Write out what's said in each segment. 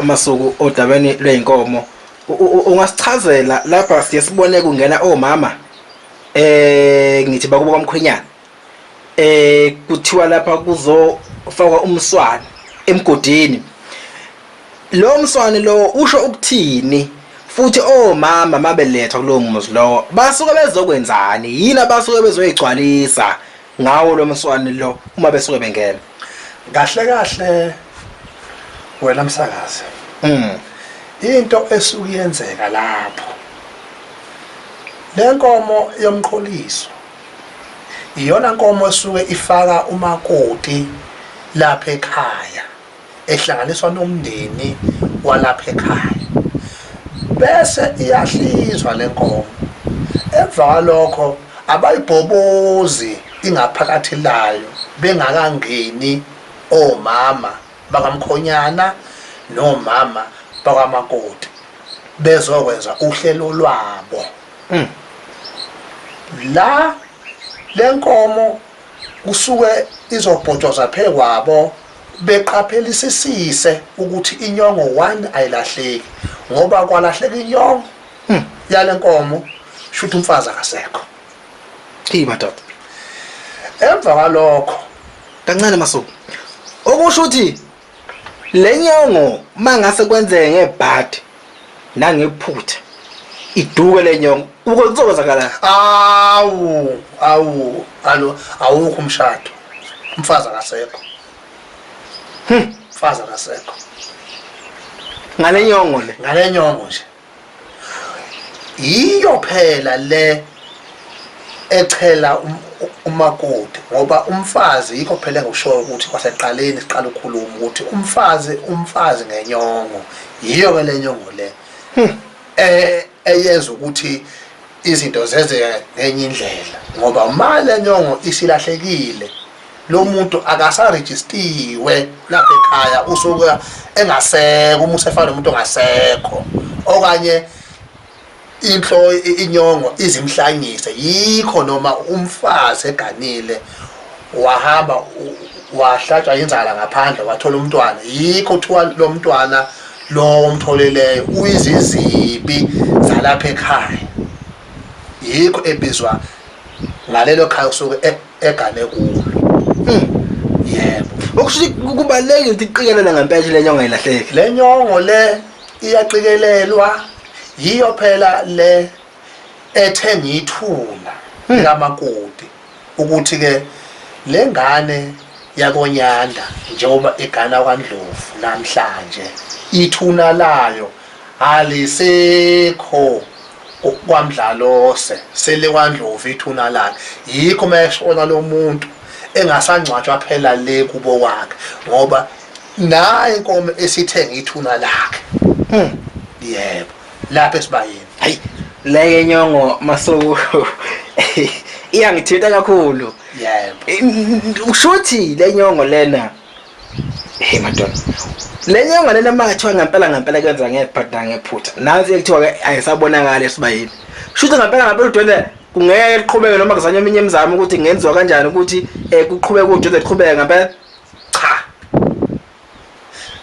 Masuku odabeni lwey'nkomo ungasichazela lapha siye sibone kungena omama eh ngithi bakubo kwamkhwenyana eh kuthiwa lapha kuzofakwa umswane emgodini lo mswane lo usho ukuthini futhi omama oh, mabelethwa kulowo muzi lowo basuke bezokwenzani yini abasuke bezoyigcwalisa ngawo lo mswani lo uma besuke bengena kahle kahle wena msakazi mm. into esuke yenzeka lapho lenkomo yomqholiso iyona nkomo esuke ifaka umakoti lapha ekhaya ehlanganiswa nomndeni walapha ekhaya bese iyahlinzwa le nkomo emva kwalokho abayibhobozi ingaphakathi layo bengakangeni omama bakamkhonyana nomama bakamakoti bezokwenza uhlelo lwabo la lenkomo Kusuke izobhotshwa zaphekwabo beqaphelisisise ukuthi inyongo one ayilahleki ngoba kwalahleka inyongo hmm, yale nkomo shuthi umfazi akasekho eyi madoda emva kwalokho kancane masuku okusho ukuthi Lenyongo mangase kwenzeke ngebhadi nangephutha iduke lenyongo uke kuzokwenzakala awu awu alo awukho umshado umfazi akasekho hm mfazi akasekho ngalenyongo le ngalenyongo nje yiyo phela le echela um, umakoti ngoba umfazi yikho phela engikushoyo ukuthi kwaseqaleni siqala ukukhuluma ukuthi umfazi umfazi ngenyongo yiyo ke le nyongo le hmm. eh eyenza ukuthi izinto zenzeke ngenye indlela ngoba uma le nyongo isilahlekile lo muntu akasarejistiwe lapha ekhaya usuke engasekho uma usefana nomuntu ongasekho okanye inhlo inyongo izimhlanyise yikho noma umfazi eganile wahamba wahlatshwa inzala ngaphandle wathola umntwana yikho kuthiwa lo mntwana lo omtholeleyo uyizizibi zalapha ekhaya yikho ebizwa ngalelo khaya usuke egane kulo mm. yebo okusho ukuthi kubalulekile ukuthi iqikelele ngempeshe le nyongo ayilahleki le nyongo le iyaqikelelwa yiyo phela le ethe ngiyithula hmm. likamakoti ukuthi-ke le ngane yakonyanda njengoba igana kwandlovu namhlanje ithuna layo Alisekho kwaMdlalose selekwaNdlovu ithuna lakhe yikho uma eshona lomuntu engasangcwatshwa phela le kubo kwakhe ngoba nayi inkomo esithenga ithuna lakhe hmm. yebo lapha esibayeni hayi leye nyongo masuku iyangithinta kakhulu yebo ushuthi lenyongo lena Hey madoda. Le nyanga lena makuthiwa ngempela ngempela kwenza ngephatha ngephutha. Nansi ekuthiwa ke ayisabonakali esibayini. Shuthe ngempela ngempela udwendwe kungeke liqhubeke noma kuzanywa eminye imizamo ukuthi ngenziwa kanjani ukuthi eh kuqhubeke udwendwe liqhubeke ngempela. Cha.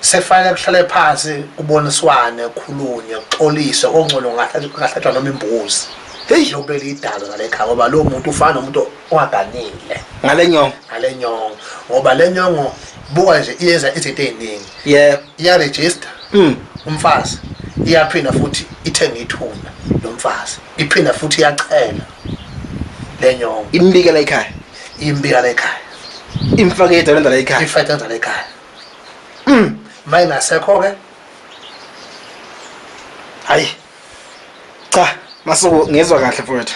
Sekufanele kuhlale phansi kuboniswane khulunywe kuxoliswe ongcono ngahlatshwa noma imbuzi. Hey lokubeli idalo ngalekhaya ngoba lo muntu ufana nomuntu ungaganile ngale nyongo ngale nyongo ngoba le nyongo buka nje iyenza izinto eziningi yeah iya register mm. umfazi iyaphinda futhi ithenga ithuna lomfazi iphinda futhi iyachela le nyongo imbikela ekhaya imbikela ekhaya imfake yedwa lendala ekhaya ifake lendala ekhaya mm maye ngasekho ke hayi cha masuku ngezwa kahle mfowethu